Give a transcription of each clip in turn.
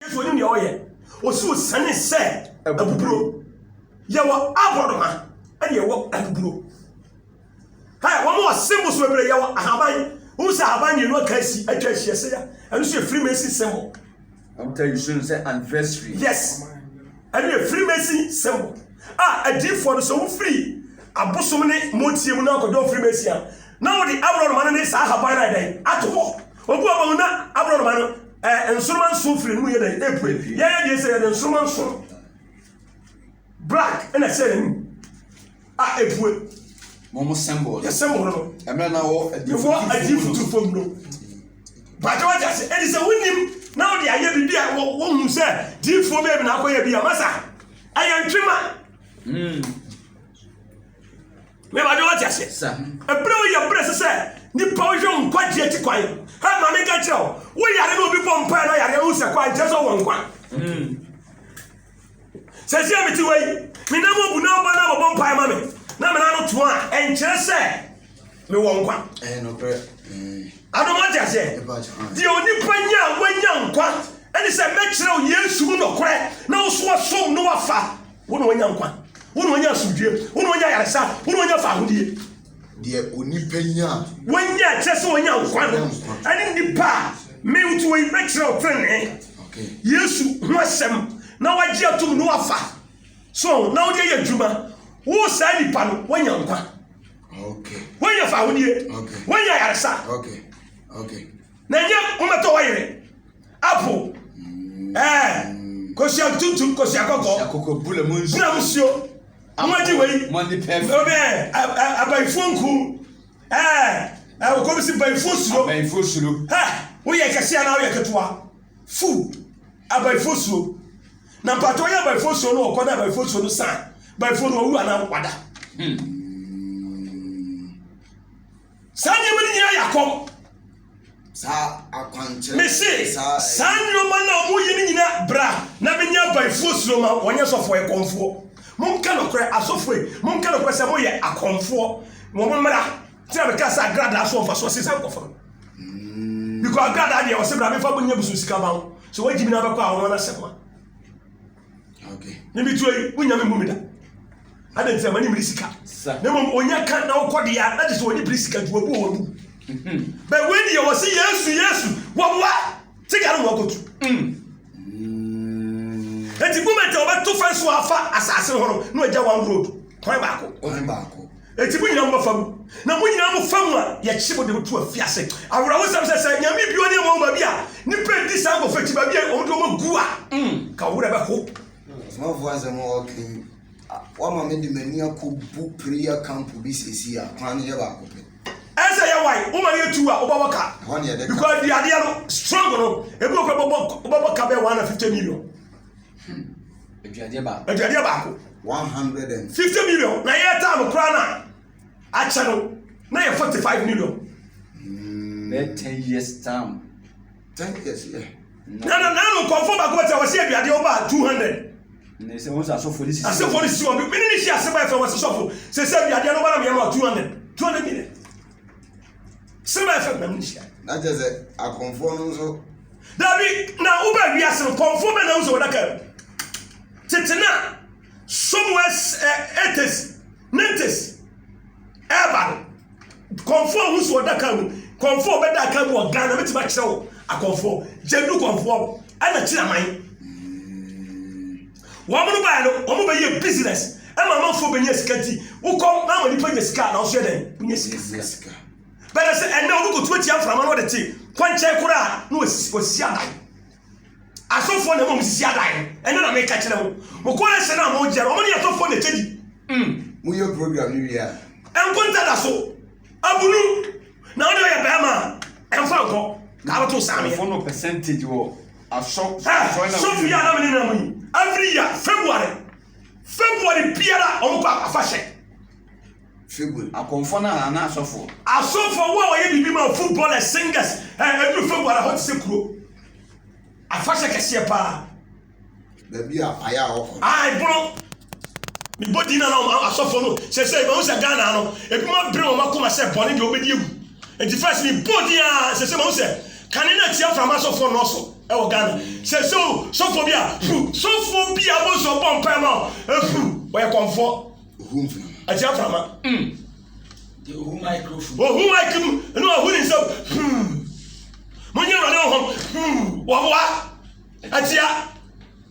Yesu onim nea ɔyɛ. Ɔsi ɔsiane sɛ abuburo. Yɛwɔ aborɔnoma ɛna yɛwɔ abuburo. Hɛ, wɔn wɔ symbols bebree, yɛwɔ ahaban. Wohu sɛ ahaban mmienu aka asi atwa ahyia sɛ ya. Ɛno nso yɛ Freemason symbol. Wɔn ta yi so no sɛ anniversary. Yes. Ɛno yɛ Freemason symbol. A adiifoɔ no sɛ wofiri abosom ne motie mu na akɔdɔn Freemason a, na wɔde aborɔnoma no ne saa ahaban no ayɛ dɛn? Ato hɔ. Obu aba mu na aborɔnoma no ɛɛ nsoroma nson firi ne mu yɛ dɛ epue. Yɛyɛ deɛ sɛ yɛde nsoroma nson black ɛna ɛhyɛ n'anim a epue. Mo mo sɛmbɔl. Yɛ sɛmbɔl no. Ɛmɛ na wɔ ɛwɔ adi futu fam no. Bàtɛ wà jase ɛdi sɛ wúnim na wòde ayɛ biribi a wọ́n mu sɛ diifoɔ bẹ́ẹ̀ bi na akɔyɛ bi a masa ɛyɛ ntwema. Mm. Mewade wate aseɛ. Ɛberɛ wɔ yɛ berɛ sɛ sɛ nipa wohwɛ wo nkwagye akyi kwan. Ha ma me nka kyerɛ wo, wo yare na obi bɔ mpae na yare wo sɛ kɔ ankyerɛ sɛ wɔ nkwa. Hmm. Sɛ sɛ mete wei, me nam obu na ɔba na bɔbɔ mpae ma me na me nano to a ɛnkyerɛ sɛ mewɔ nkwa. Ɛyɛ nokorɛ. Hmm. Adom wate aseɛ. Deɛ onipa nya a wanya nkwa ɛne sɛ mɛkyerɛ wo Yesu mu nokorɛ na wo so wasom no wafa. Wo na wanya nkwa. Wo na wanya asomdwie. Wo na wanya yaresa. Wo na wanya faahodie. Deɛ onipa nya. Wanya kyerɛ sɛ wanya nkwa no. Ɛne nipa a mentu wɔ yi bɛkyerɛ wo trenee. Yesu ho asɛm na wagye atom na wafa. So na wode ayɛ adwuma. Wo saa nipa no wanya nkwa. Wanya faahodie. Wanya yaresa. Okay. Okay. Na nyɛ wommɛtɔ w'ayere apo ɛɛ kosua tuntum kosua kɔkɔɔ bura mu nsuo moadi wei ɔbɛ abayifoɔ nku ɛɛ ɔkɔbi si bayifoɔ suro ha woyɛ kɛse anaa woyɛ ketewa fu abayifoɔ suro na mpatɔ yɛ abayifoɔ suro no ɔkɔ na abayifoɔ suro no san bayifoɔ no wawu anaa wada hmm. saa nneɛma no nyinaa yɛ akɔm saa akwankyerɛ mese saa nneɛma no a wɔyɛ no nyinaa bra na menyɛ abaefoɔ suro ma wɔnyɛ sɔfoɔ ɛkɔmfoɔ monka nokorɛ asɔfoɔ yi monka nokorɛ sɛ moyɛ akɔmfoɔ wɔ mo mmara tena meka sɛ agradaa so ɔmfa soɔ se saa nkɔfo no mm. because agradaa deɛ ɔse bra mefa bonyɛ busu sika ma wo sɛ woagyi mi no abɛkɔ a wɔn anasɛm a okay ne bi tuo yi wonya me mu me da ade nti amani mmiri sika na mmom onya ka na wokɔ de a na gye sɛ wɔne biri sika nti wɔbu wɔn mu bɛn wei deɛ wɔ se yesu yesu wɔboa sika no wɔkɔtu nti moment a wɔbɛto fɛn so afa asase hɔ no na wɔagya one road kwan baako kwan baako Enti mo nyinaa mo bɛfa mu, na mo nyinaa mo fa mu a, yɛkye mo de mo to afiase. Awerɛhosɛm sɛ sɛ nyame bi ɔne ɛmɔ baabi a, nnipa ɛdi saa nkɔfo akyi baabi a wɔn de wɔn agu a, nka wo werɛ bɛho. Ɔsomafoɔ asɛm a ɔka yi, wama me de m'ani akɔbu prayer camp bi sɛsi a, kwan no yɛ baako pɛ. Ɛsɛ yɛ wae, wo ma no yɛ two a, wobɛbɔ ka. Ɛhɔ ne yɛde ka. Because di adeɛ no, strong no, ebi wɔ kora wobɛbɔ ka bɛyɛ 150 million. aduadeɛ baako aduadeɛ baako 150 million na yɛtaa no koraa no a akyɛ no na yɛ 45 million bɛɛ 10 years time 10 years yɛ na na na no nkɔmfo baako bɛtɛ wɔsi aduadeɛ ɔba 200 ne sɛ wɔn sɛ asɔfo ne sisi asɔfo ne sisi wɔn bi mene ne hyɛ ase bɛɛ fɛ wɔsi sɔfo sɛ sɛ aduadeɛ no ba na meyɛ ma 200 200 million sɛ bɛyɛ sɛ nam nhyia na kyɛ sɛ akɔmfoɔ no nso dabi na wobɛ wiase no kɔmfoɔ bɛ na wo sɛ wɔdaka mu tete no a somewhere eighties nineties ɛba no kɔmfoɔ a wosi ɔdaka mu kɔmfoɔ a ɔbɛda aka mu wɔ ghana mɛtumi akyerɛ wo akɔmfoɔ gyadu kɔmfoɔ ɛna kyerɛ aman Wɔn no baeɛ no, wɔn bɛyɛ business ɛma amanfoɔ bɛnya sika nti wokɔ na ama nipa nya sika na ɔsoɛ dɛn wonya sika bɛdɛ sɛ ɛnɛ obi kɔtu atia mframa no ɔde te kwankyɛn koro a na wɔsisi adan asɔfoɔ na ɛma wɔn sisi adan no ɛnɛ na meka kyerɛ mo mokɔ na sɛ na mogyɛ no wɔn ne asɔfoɔ na ɛkyɛ di mm. woyɛ program no wie a ɛnkonta da so Abunu na ɔde ɔyɛ bɛrima ɛnfa nkɔ na abɛto saa meyɛ. Fono percentage wɔ asɔ asɔ na. Sɔfo yi anam ne nam yi every year February February biara ɔmo kɔ afahyɛ. February akɔnfɔ na ana asɔfo. Asɔfo wo a wɔyɛ bibi ma footballers singers ɛɛ ɛduru February hɔ te sɛ kuro afahyɛ kɛseɛ paa. baabi a ayɛ a ɔkɔ. a ɛpono mebɔ din na na asɔfoɔ no sɛ sɛ ɛbɛhu sɛ ghana no ebinom abere wɔn akoma sɛ bɔne deɛ wɔbɛdi awu nti first mebɔ din a sɛ sɛ mahu sɛ kane no atia frama asɔfoɔ nnɔɔso ɛwɔ ghana sɛ sɛ o sɔfoɔ bi a pu sɔfoɔ bi a bɔ sɔ bɔ mpae ma ɛpu wɔyɛ kɔmfoɔ ohu mframa atia frama mm. ohu microphone ohu mic mu ɛna ɔhu ne nsam hmm. monyɛ awurade honhom hmm. wɔboa Atia.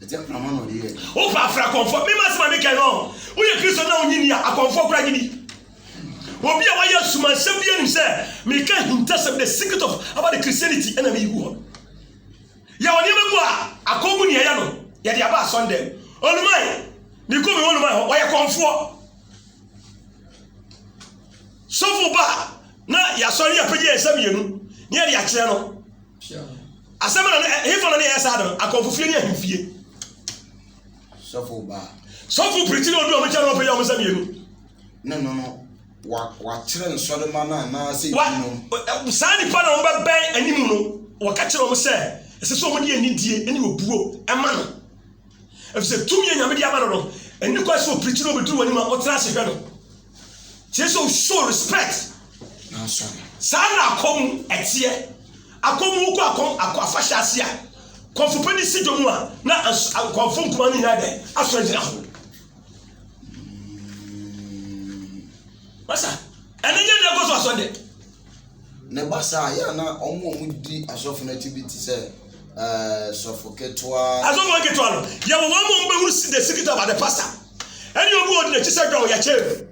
Atia prama na ɔde yɛ. O pa afra kɔnfɔ. Mi ma sima mi kɛ no. O yɛ Kristo na o nyi ni a akɔnfɔ kura nyi ni. Obi a wayɛ asumansɛm bi anim sɛ meka ahintasɛm the secret of about the Christianity ɛna meyi gu hɔ. Yɛwɔ nneɛma bu a akɔn mu nea yɛ no yɛde aba asɔn dɛm. Oluman, mekɔ me oluman hɔ, wɔyɛ kɔnfoɔ. Sɔfo ba na yɛasɔre yɛapagya yɛn nsa mmienu na yɛde akyerɛ no. asɛm na ɛhefa na ne yɛ saa de no akɔnfo fie ne ahemfie sɔfo baa sɔfo pirikyi na odu ɔmo kyɛn na ɔfɛ yɛ ɔmo sɛ mmienu ne no no wakyerɛ nsɔrema no anaasɛ no saa nipa na ɔmo bɛbɛn anim no wɔka kyerɛ ɔmo sɛ ɛsɛ sɛ ɔmo de anidie ne obuo ɛma no ɛfisɛ tumi yɛ nyame de ama no no ɛni kɔ sɛ opirikyi na obɛduru wɔ anim a ɔtena ase hwɛ no Kyerɛ sɛ show respect. Saa na akɔm ɛteɛ. Akɔm wokɔ akɔm akɔ afahyɛ ase a kɔmfo pɛ ne si dwom a na nkɔmfo nkuma no nyinaa dɛ asɔ agyina ho. Masa ɛne nyɛ deɛ ɛkɔ so asɔ dɛ. na ɛba saa a, yɛ a na wɔn a wɔdi asɔfo no akyi bi te sɛ ɛɛ sɔfo ketewa. Asɔfo nketewa no, yɛ wɔn ama wɔn bɛhuru si the secret about the pastor. Ɛne obi a ɔdi n'akyi sɛ dɔn yɛkyɛn no.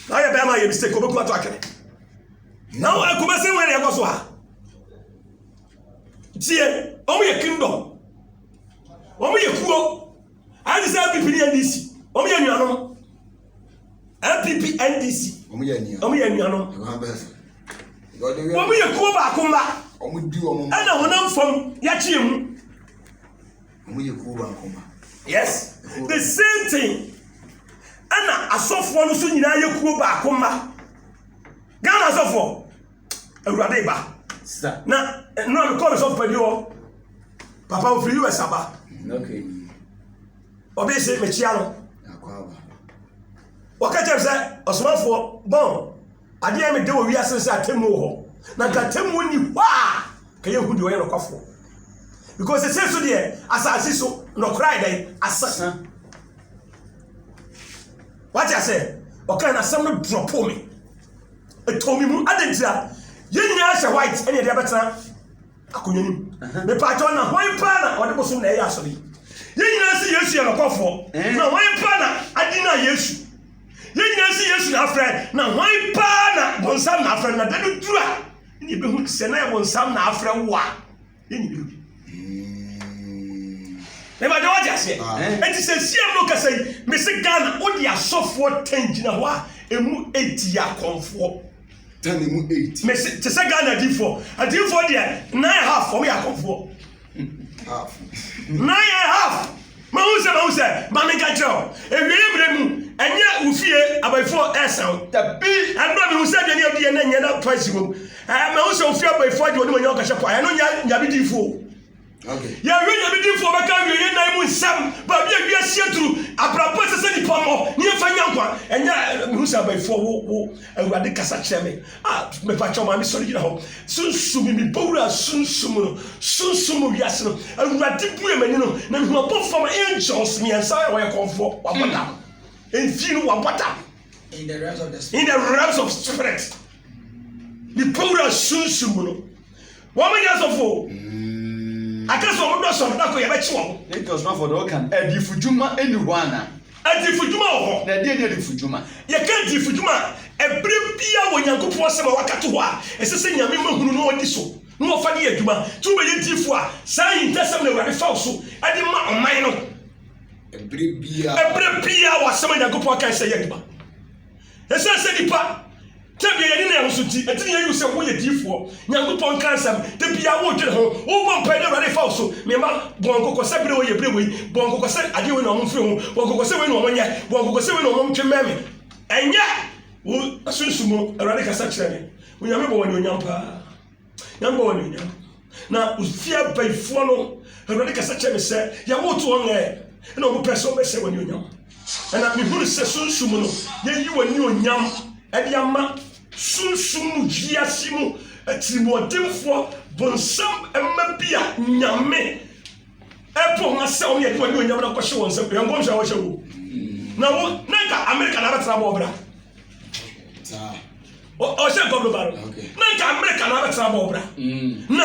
Na ɔyɛ bɛrima yɛ mistake, ɔbɛku ato atwene. Na wɔn akoma sɛ wɔn na ɛkɔ so ha. Tie, wɔn yɛ kingdom. Wɔn yɛ kuo. Ayɛ te sɛ APP ne NDC. Wɔn yɛ nuanom. npp ndc wɔn yɛ anuanom wɔn yɛ anuanom ɛwɔ bɛs wɔn yɛ kuo baako mma wɔn di wɔn mma ɛna honam fam yɛakye emu wɔn yɛ kuo baako mma yes the same thing ɛna asɔfoɔ no so nyinaa yɛ kuo baako mma ghana asɔfoɔ awurade ba na nnora mekɔɔ me sɔfo pani hɔ papa ofiri us aba okay. Obi se mekyia no. Wɔka kyerɛ sɛ ɔsomafoɔ bɔn adeɛ me de wɔ wiase sɛ atemmu wɔ hɔ. Na nka atemmu nni hɔ a ka yɛhu deɛ ɔyɛ nɔkwafoɔ. Because sɛ so deɛ asase so nɔkora ayɛ dɛn asesa. Wate asɛ ɔka na asɛm no drɔpo me. Ɛtɔ me mu adentira. Yɛn nyinaa hyɛ white ɛne ɛde abɛtena akonnwa no mu mepatwɔ na hwan paa na ɔde bosom na ɛyɛ asɔre yi yɛn nyinaa si yesu yɛ nɔkɔfoɔ na hwan paa na adi na yesu yɛn nyinaa si yesu na afrɛ na hwan paa na bonsam na afrɛ na da no duru a ne yɛbɛhu sɛ na yɛ bonsam na afrɛ wo a yɛn nyinaa bi mepatwɔ wɔgye aseɛ ɛnti sɛ siam no kasa yi mese ghana wode asɔfoɔ tɛn gyina hɔ a ɛmu ɛtia kɔmfoɔ Tell me mu eight. Me se te sɛ Ghana adiifoɔ. Adiifoɔ deɛ nine half wɔn yɛ akɔfoɔ. Half. Nine and half. Mahu sɛ mahu sɛ maame nka kyerɛ o. Ewieɛ mmerɛ mu ɛnyɛ wo fie abayifoɔ ɛɛsa o. Dabi. Ɛnura mehu sɛ aduane odi yɛ na nyɛ na fancy wom. Ɛɛ mahu sɛ ofie abayifoɔ agye wɔn nimonyam kɔhyɛ pɔ. Ɛno nyɛ nyame diifoɔ o. Yɛawie Nyame Dimfoɔ bɛka awieɛ nna yi mu nsɛm, baabi a wiase aduru, abrabɔ ɛsɛ sɛ nipa mmɔ, ne yɛmfa nya nkwa. Ɛnyɛ mehu sɛ abayifoɔ wo wo Awurade kasa kyerɛ me. A mepa kyɛw maame sɔre gyina hɔ. Sunsum mi mebɔ wura sunsum mu no, sunsum mu wiase no. Awurade bue m'ani no na mehu abɔfoɔ ma angels mmiɛnsa a wɔyɛ kɔnfoɔ wabɔ hmm. dam. Mfii no wabɔ dam. In the realms of the spirit. In the realms of spirit. Mebɔ wura sunsum mu no. Wɔn nyɛ asɔfo o. Aka sɛ wɔn dɔsɔ no, da koro yɛbɛkye wɔn. Ne nti ɔsomafo de ɔka no, adiyifo dwuma nni hɔ ana? Adiyifo dwuma wɔ hɔ. Na deɛn ne adiyifo dwuma? Yɛka adiyifo dwuma a, ɛberɛ biara wɔ Nyankopɔn asɛm a wɔaka to hɔ a ɛsɛ sɛ Nyame ma hunu na ɔdi so na ɔfa de yɛ adwuma. Nti wobɛyɛ diyifo a, saa ahintasɛm na Awurade fa wo so de ma ɔman no. Ɛberɛ biara. Ɛberɛ biara wɔ asɛm a Nyankopɔn kae sɛ yɛ adwuma. Esiane sɛ nnipa tebea yɛ ne nan ho so nti, ɛte nea ɛyɛ wo sɛ woyɛ diyifoɔ. Nyankopɔn nka nsɛm. Da biara wodwene ho. Wobɔ mpae na Awurade fa wo so. Me mma, bɔ wɔn kɔkɔ sɛ bere wei yɛ bere wei. Bɔ wɔn kɔkɔ sɛ adeɛ wei na wɔmfiri ho. Bɔ wɔn kɔkɔ sɛ wei na wɔnyɛ. Bɔ wɔn kɔkɔ sɛ wei na wɔntwe mmɛn me. Ɛnyɛ wo sunsum mu. Awurade kasa kyerɛ me. Onyame bɔ wo anuonyam paa. Yɛmmɔ wɔn anuonyam. Na ofie abayifoɔ no, Awurade kasa kyerɛ me sɛ, yɛwoto wɔn ɛ, na wɔpɛ sɛ wɔbɛsɛ wɔn anuonyam. Ɛna mehunu sɛ sunsum no, yɛyi wɔn anuonyam de ama sunsum mu wiase mu atirimuɔdenfoɔ bonsam mma bi a nyame ɛpo ho asɛ wɔn yɛde wɔn anuonyam no akɔhyɛ wɔn nsam. Yɛn nkɔmhyɛ a wɔhyɛ wo. Na wo, na nka Amerika na abɛtena bɔ ɔbra. ɔhyɛ nkɔboroba no na nka amerika na abɛtena bɔ ɔbra mm. na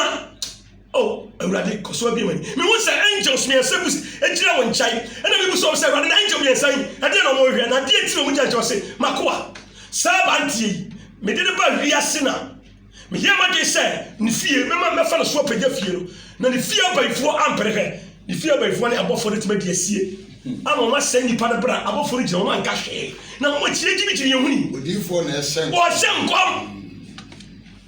oh awurade kɔso abie mani mehu sɛ angels mmiɛnsa bu agyina wɔ nkyae ɛna mebu sɛ sɛ awurade na angel mmiɛnsa yi ɛdeɛ na ɔmɔhwɛ na adeɛ ti na ɔmogya nkyɛ ɔse makoa saa abanteɛ yi mede ne ba wiase na Meyɛɛ m'adwene sɛ ne fie mɛma mɛfa no so apagya fie no, na ne fie abayifoɔ ampere hwɛ. Ne fie abayifoɔ ne abɔfoɔ no atumi adi asie ama wɔn asɛe nnipa no berɛ a abɔfoɔ no gyina wɔn anka hwee, na wɔn akyi no gyimigyimi yɛn ho ni. Odiyifoɔ na ɛhyɛ nkɔm. Ɔhyɛ nkɔm.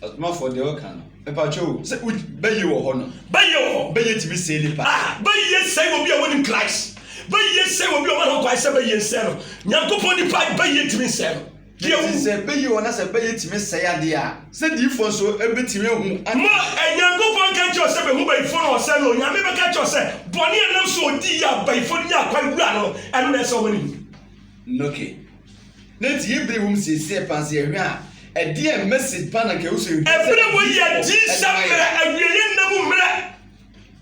Ɔsomafoɔ deɛ ɔka no. Mpakyɛw sɛ bɛyɛ wɔ hɔ no. Bɛyɛ wɔ hɔ. Bɛyɛ tumi sɛe nipa. Ah, bɛyɛ sɛe wɔ bi a wɔnim Christ. Bɛyɛ sɛe wɔ bi a wɔn ho kwan sɛ bɛyɛ nsɛe no. Nyankopɔn nipa bɛyɛ tumi nsɛe no. Deɛ ɛte wu. sɛ bɛyɛ o, na sɛ bɛyɛ tumi sɛe adeɛ a, sɛ diyifoɔ nso bɛtumi ahu ade. Ma Nyankopɔn nka nkyerɛ wo sɛ bɛhu bayifoɔ na wɔsɛe no, Onyame bɛka akyerɛ wo sɛ, bɔne a ɛnam so a ɔdii yɛ a bayifoɔ no nyaa kwan wuraa no no, ɛno na ɛsɛ sɛ wɔma no wu. Noke. Na nti yɛ bere wom seesei paa sɛ yɛhwɛ a, ɛdeɛn message paa na nka ɛwɔ sɛ yɛhunu sɛ Ɛberɛ wɔ yɛ adiyifoɔ de adiyisɛm ma yɛn? mmerɛ, awieɛ nna mu mmerɛ,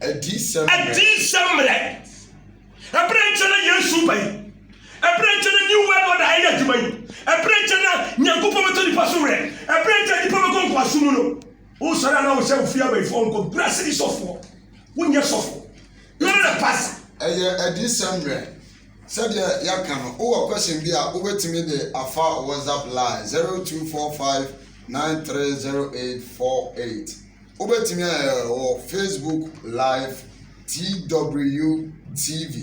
Adiyisɛm mmerɛ. adiyisɛm mmerɛ. Ɛberɛ nkyɛ na Yesu reba yi. Ɛberɛ nkyɛ na New World Order reyɛ adwuma yi. Ɛberɛ nkyɛ na Nyankopɔn bɛtɔ nipa so werɛ. Ɛberɛ nkyɛ nipa bɛkɔ nkoasom mu no. Wosɔre a na wo sɛ wofie abayifoɔ nkɔ bra sɛ sɔfoɔ. Wonyɛ sɔfo. You are not a pastor. Ɛyɛ adiyisɛm mmerɛ. Sɛdeɛ yɛaka no, wowɔ question bi a, wobɛtumi de afa WhatsApp line zero two four five nine three zero eight four eight. Wobɛtumi ayɛ wɔ Facebook live TWTV.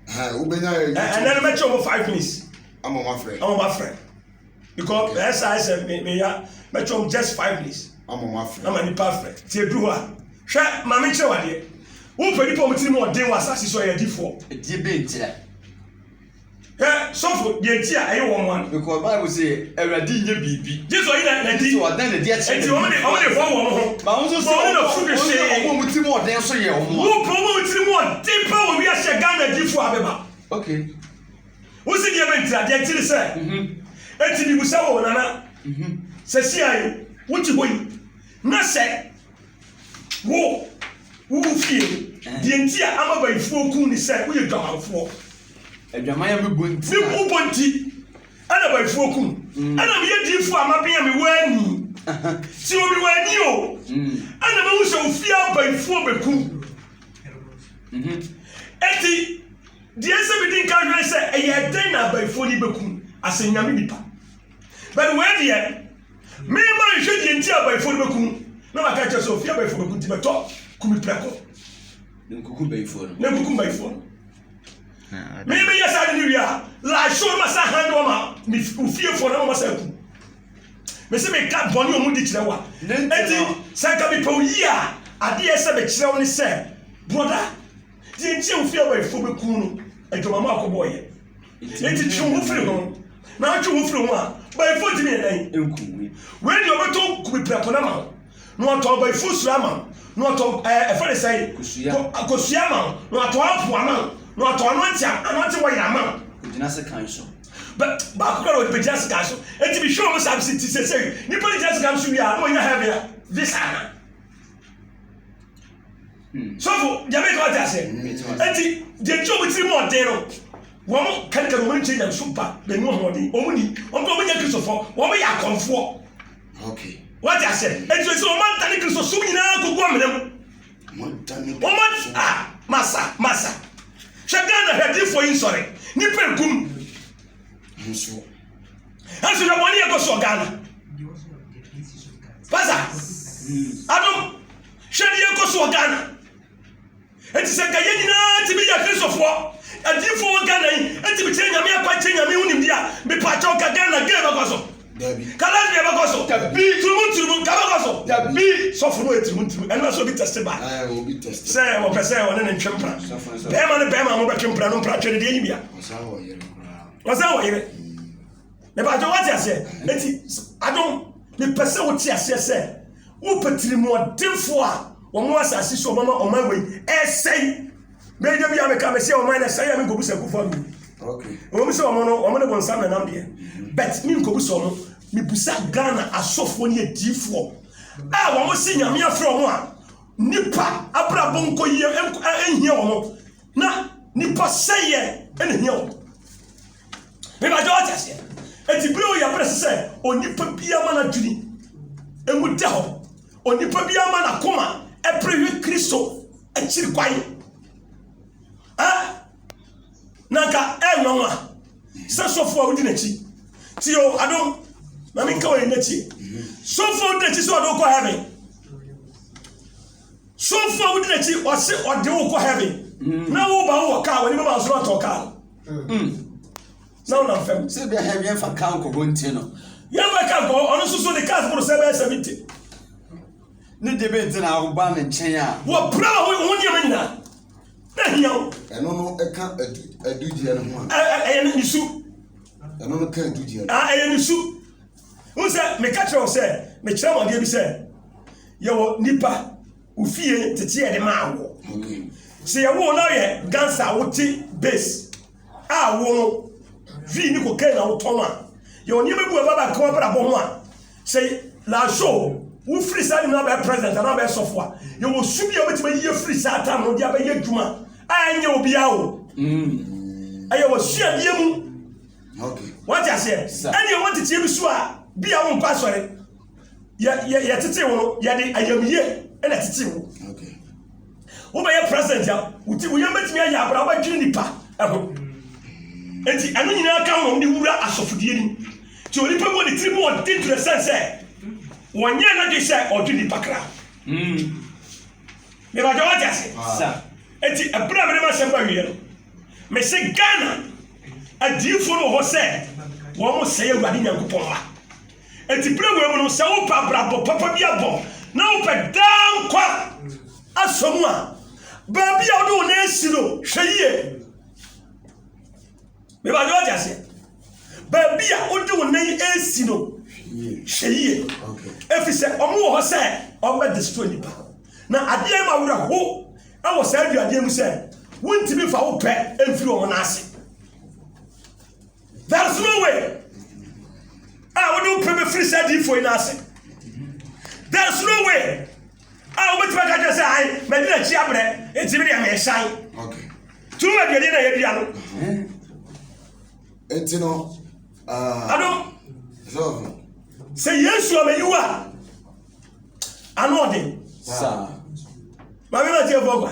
Wobɛnya yɛ YouTube. Ɛnɛ no mɛkyɛ ɔmo five minutes. Ama ɔmo afrɛ. Ama ɔmo afrɛ. Because ɛsa ɛsɛ meya mɛkyɛ ɔmo just five minutes. Ama ɔmo afrɛ. Ama nipa afrɛ. Ti edu hɔ a. Hwɛ maame nkyerɛ wadeɛ. Wopɛ nipa ɔmo tiri mu ɔden wɔ asase so ɛyɛ adifoɔ. Ɛdeɛ bɛ nkyerɛ. Hwɛ sɔfo deɛ nti a ɛyɛ wɔn nwa no. Because Bible say Awurade nyɛ biribi. Gye sɛ ɔyi na na di. Nti ɔdan na di akyerɛ. Nti wɔn de wɔn de bɔ wɔn ho. Ba wɔn nso sɛ wɔn na fu de hyɛ. Wɔn wɔn ti mu ɔden nso yɛ wɔn. Wo pɛ wɔn ti mu ɔden pa wɔ wi ahyɛ Ghana di fo abɛba. Okay. Wo si deɛ bɛ ntira deɛ ntiri sɛ. Eti bi busa wɔ nana. Sɛ si ayi wo ti hɔ yi na sɛ. Wo, wo wo fie no, deɛ nti a ama bayifoɔ ku ne sɛ woyɛ dwamanfoɔ. Adwaman a mebɔ nti. Me bu bɔ nti ɛna bayifoɔ ku mm. ɛna meyɛ diifoɔ a maben a mewɔ ani. Sɛ obi wɔ ani o, mm. ɛna mahu sɛ ofie a bayifoɔ bɛku. Mhm. Eti deɛ sɛ medi nka hwɛ sɛ ɛyɛ dɛn na abayifoɔ yi bɛku asɛ nyame nipa. But wei deɛ Merema nhwɛ deɛ nti a abayifoɔ no bɛku no, na maka akyerɛ sɛ ɔfiri abayifoɔ bɛku nti bɛtɔ ku me prɛko na nkuku bayifoɔ no. Na nkuku mbayifoɔ no. Me meyɛ saa de no wie a, lahyɛ ɔno ma saa han de wama me ofiefoɔ na wɔma saa ku. Me se meka bɔne ɔmo di kyerɛ wa. Enti sɛ nka mepɛ wo yie a, adeɛ sɛ mekyerɛ wo ne sɛ, brɔda, deɛ nti a ofiri abayifoɔ bɛku no, adwamama akɔbɔɔyɛ. Enti twe wo ho firi ho, na wotwe wo ho firi ho a, bayifoɔ ntumi yɛ dɛn nku wo? Wei deɛ ɔbɛtɔ kube prɛko no ama wo, na watɔ bayifoɔ suro ama wo, na watɔ ɛɛ ɛfɛ ne sɛn kosua kosua ama wo, na watɔ apo ama wo, na watɔ anɔnte anɔnte wɔyɛ ama wo. Ogyina sekan so. Bɛ baako kura na ɔbɛgyina sekan so. Eti bi hwɛ wɔn saa bi si ti sɛsɛn nipa ne gyina sekan so wie a na wɔnya hɛn bea visa ana. Hmm. sɔfo nyame ka ɔte aseɛ ɛnti deɛ nti ɔmo tiri mu ɔden no wɔn kankari wɔn nkyɛn nyam so ba bɛnu ahoɔden wɔn ni wɔn kura wɔn nyɛ kristofo wɔn yɛ akɔnfoɔ wɔte aseɛ ɛnti sɛ wɔn anta ne kristo som nyinaa kogu amena mu wɔn a masa masa hwɛ ghana hwɛ adiifoɔ yi nsɔre nipa egum nso hwɛ bɔne ɛkɔ soɔ ghana pasa hmm. adom Hwɛ deɛ ɛkɔ so wɔ Ghana. Enti sɛ nka yɛn nyinaa tumi yɛ Kristofoɔ, adiifoɔ wɔ Ghana yi tumi kyerɛ Nyame akwan, kyerɛ Nyame ho nimdeɛ a, mepaakyɛ nka Ghana gay bɛkɔ so? Dabi. Ka lesbian bɛkɔ so? Dabi. Turumu turumu nka bɛkɔ so? Dabi. Sɔfo no yɛ turumu turumu, ɛno ɛsɛ obi test ba. Aye, obi test. Sɛ wɔpɛ sɛ wɔne ne ntwe mpra. Bɛrima ne bɛrima a wɔbɛtwe mpra no mpratwe no deɛ yi bia. Wɔsan wɔ yere koraa. Wɔsan wɔ yere. mebàjɔ wate aseɛ eti adom mepɛ sɛ wote aseɛ sɛ wopɛ tirimɔdenfo a wɔn wɔ asase so ɔmama ɔman wei ɛsɛe bɛyi da bi a meka mɛsɛ ɔman na ɛsɛe a menkɔbu sɛ akufo adu ɛwɔ mu sɛ ɔmo no ɔmo de wɔn nsa nanam deɛ but menkɔbu sɛ ɔmo mebusa Ghana asɔfoɔ ne adiifoɔ a wɔn se nyame afrɛ ɔmo a nipa abrabɔ nkɔ yie ɛnhia wɔn na nipa sɛyɛ ɛna hia wɔn Mebakyɛ ɔte aseɛ. Eti bere oyɛ bere sɛ onipa biara ma n'adwene emu da hɔ. Onipa biara ma n'akoma ɛpere hwɛ Kristo akyiri kwan. Ɛ na nka ɛnwanwa sɛ sɔfo a wodi n'akyi. Ti o adom na menka wɔ yɛn akyi. Sɔfo a wodi n'akyi sɛ ɔde wokɔ heaven. Sɔfo a wodi n'akyi ɔse ɔde wokɔ heaven. Na wo ba wɔ kaa wɔ ne bɛma asoro atɔ kaa. Hmm. sɛ wona fam sɛ bia hɛ wiɛmfa ka nkɔbɔ nti no yɛmfa ka nkɔbɔ ɔno soso ne cars boro sɛ bɛyɛ 70 ne deɛ bɛ nti na woba ne nkyɛn a wɔpra ma ho nneɛma nyinaa na hia wo ɛno no ɛka adugyeɛ no ho a ɛyɛ ne su ɛno no ka adugyeɛ no ɛyɛ ne su wo sɛ meka kyerɛ wo sɛ mekyerɛ mɔdeɛ bi sɛ yɛwɔ nipa Ofie tete yɛde maa wo. Sɛ yɛwo wo na ɔyɛ dansa a wote bass a wo no vii ne kokain na wotɔn a yɛwɔ nneɛma bi wɔ baba nkawa brabɔ ho a sɛ lajo wofiri saa nim no abɛyɛ president anaa abɛyɛ sɔfo a yɛwɔ su bi a wobɛtumi ayi afiri saa tam no de abɛyɛ adwuma a ɛnyɛ obiara o mm. ɛyɛ wɔ suadeɛ mu wate aseɛ ɛne ɛwɔ nteteɛ bi so a bi a wonkɔ asɔre yɛtetee wo no yɛde ayamyie na ɛtetee wo wobɛyɛ president a woti woyɛ mɛtumi ayɛ abra wobɛdwene nipa ɛho nti ɛno nyinaa ka ho de wura asɔfodie nim nti onipa bɔ ne tiri mu ɔde dwerɛ sɛn sɛ wɔnyɛ no de sɛ ɔdwe nipa kra mebagya wate ase nti ɛberɛ a mede masɛm ba wieɛ no mese ghana adiifoɔ no wɔ hɔ sɛ wɔn sɛe awurade nyankopɔn ma Enti bere wei mu no, sɛ wopɛ abrabɔ papa bi abɔ na wopɛ daa nkwa afa mu a, baabi a wode wo nan asi no, hwɛ yie. Meba de wate aseɛ. Baabi a wode wo nan asi no, hwɛ yie. Ɛfiri sɛ wɔn wɔ hɔ sɛ wɔbɛ destroy nipa. Na adeɛ ma werɛ ho wɔ saa aduadeɛ mu sɛ wontumi fa wo pɛ mfiri wɔn nan ase. There's no way a wode wo pɛ bɛfiri sɛ adiifoɔ yi no ase. There's no way a wobɛtumi aka kyɛ sɛ ae madi n'akyi abrɛ ɛti me deɛ meesan. Tumi aduane na yɛdua no. Ɛnti no. Ah. Adom. Sɛ Yesu amayiw a ano ɔden. Saa. Maame ma tie fɔ kwa.